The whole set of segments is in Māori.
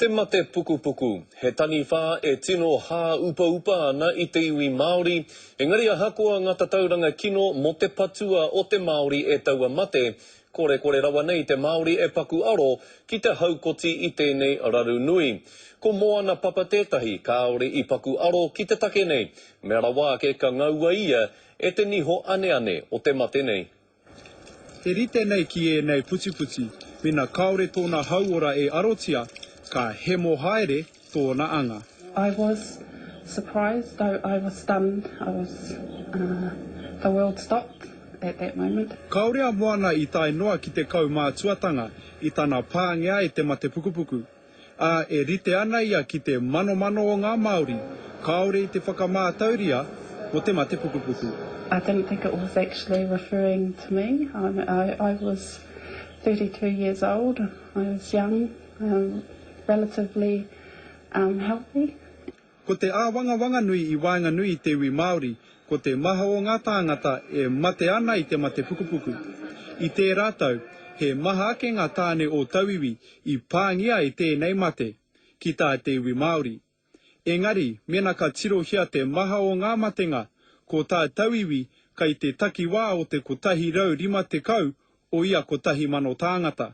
Te mate pukupuku, he taniwha e tino hāupaupa ana i te iwi Māori, engari ahakoa ngā tatauranga kino mō te patua o te Māori e taua mate, korekore rawa nei te Māori e paku aro ki te haukoti i tēnei raru nui. Ko Moana Papa tētahi kāore i paku aro ki te take nei, mea rawa ake ka ngaua ia e te niho aneane o te mate nei. E rite nei ki ēnei putiputi, mena kāore tōna hauora e arotia, ka hemo haere tōna anga. I was surprised though I was stunned I was the world stopped at that moment. Kāore a Moana i tae noa ki te kaumātuatanga i tana pāngia e te matepukupuku. ā, e rite ana ia ki te manomano o ngā Māori kāore i te whakamātauria mō te mate pukupuku. I didn't think it was actually referring to me, I I was thirty two years old, I was young, relatively healthy. Ko te āwangawanganui i waenganui i te iwi Māori, ko te maha o ngā tāngata e mate ana i te mate pukupuku. I tērā tau, he maha ake ngā tāne o tauiwi i pāngia e tēnei mate, ki tā te iwi Māori. Engari, mēnā ka tirohia te maha o ngā matenga, ko tā tauiwi kai te takiwā o te 150 o ia kotahi mano tāngata.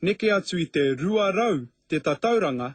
Neke atu i te 200 te tatauranga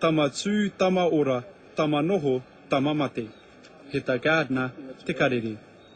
Tama tū, tama ora, tama noho, tama mate. He ta Gardner te karere.